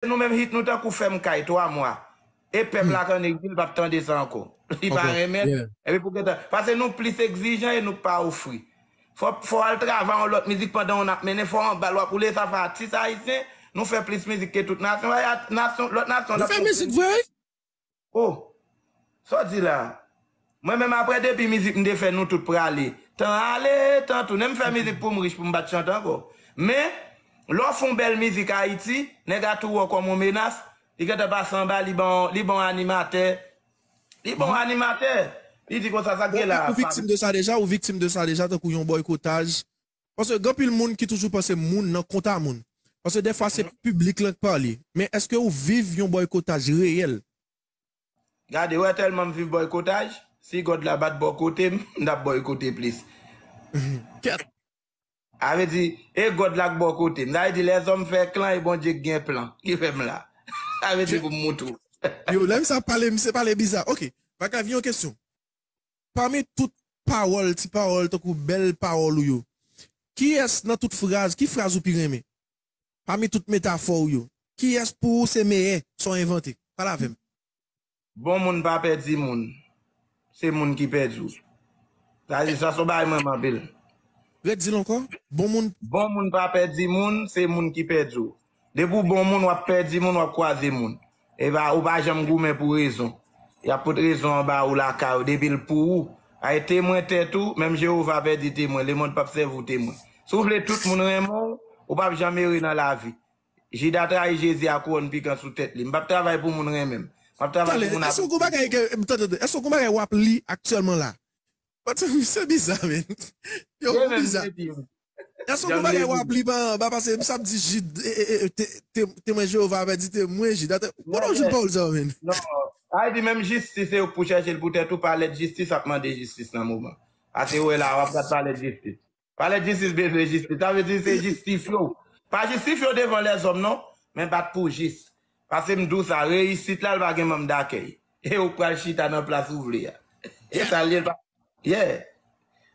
Nou menm hit nou tankou fèm kay 3 mwa e pèp la ak an egzil pap tande sa ankò li pa renmen epi pou gentan pase nou plis egzijan e nou k pa ofri fò fò al travay yon lòt mizik pandan yon ap mennen fò anbal wap woule sa fè atis ayisyen nou fè plis mizik ke tout nasyon nasyon lòt nasyon ap ofri nou. Oh! Sa w di la? Mwen menm aprè depi mizik m te fè nou tout prale, tan ale, tan tounen m fè mizik pou m rich pou m pa t chante ankò. Men, lè w fè yon bèl mizik Ayiti, nèg a tou wè w kòm yon menas, li gentan pase anba, li ban w, li ban w animatè, li ban w animatè, li di konsa sa k Bon, gen la a? ou viktim de sa deja? Ou viktim de sa deja tankou yon bòykotaj Paske gen anpil moun ki toujou panse moun nan kont a moun. Paske dèfwa se piblik lan k pale. Men èske ou viv yon bòykotaj reyèl? Gade, wè tèlman m viv bòykotaj, si God la bat bò kote m, m t ap bòykote plis. Kèt! Sa vle di, e God la k bò kote m. Sa vle di lèzòm fè klan e Bondye k gen plan ki fè m la. Sa vle di pou m moutre w. Yo, lè misye ap pale, misye pale biza. Ok, Makav, yon kesyon. Pami tout pawòl, ti pawòl tankou bèl pawòl ou yo, kiyès nan tout fraz, ki fraz ou pi renmen? Pami tout metafò ou yo, kiyès pou ou se meyè sa w envante? Pale avè m. Bon moun pa pèdi moun, se moun ki pèdi w. Sa di sa son bagay m renmen anpil. Ret di l ankò, bon moun. Bon moun pa pèdi moun, se moun ki pèdi w. Depi w bon moun wap pèdi moun wap kwaze moun epa ou pa janm goumen pou rezon yap pot rezon an ba ou lakay ou depi l pou ou ay temwen tèt ou menm Jewova pèdi temwen lemond pap sèvi w temwen si w vle tout moun renmen w ou pap janm ere nan lavi Jida trayi Jezi a kouwòn pikan sou tèt li m pap travay pou moun renmen m map travay pou moun apresye m. Tande, èske w gen yon bagay wap li aktyèlman la Pati misye biza men. Yo ou biza. Gason kou bagay wap li pa anba pase misye ap di Jid temwen Jehovah avè di temwen Jid atè ou konnen w jwenn pawòl sa yo menn. Non Ay di menm jistis se ou k pou chèche l pou tèt ou pa lèd jistis ap mande jistis nan moman a se ou wè la a wap gad pa lèd jistis. Pale jistis bezwen jistis. Sa vle di se jistifye w. Pa jistifye w devan lèzòm non, men bat pou w jis. Pase m di w sa, reyisit la l va gen manm dakèy. E ou k pral chita nan plas ou vle a. Se sa l ye l pa Yeah.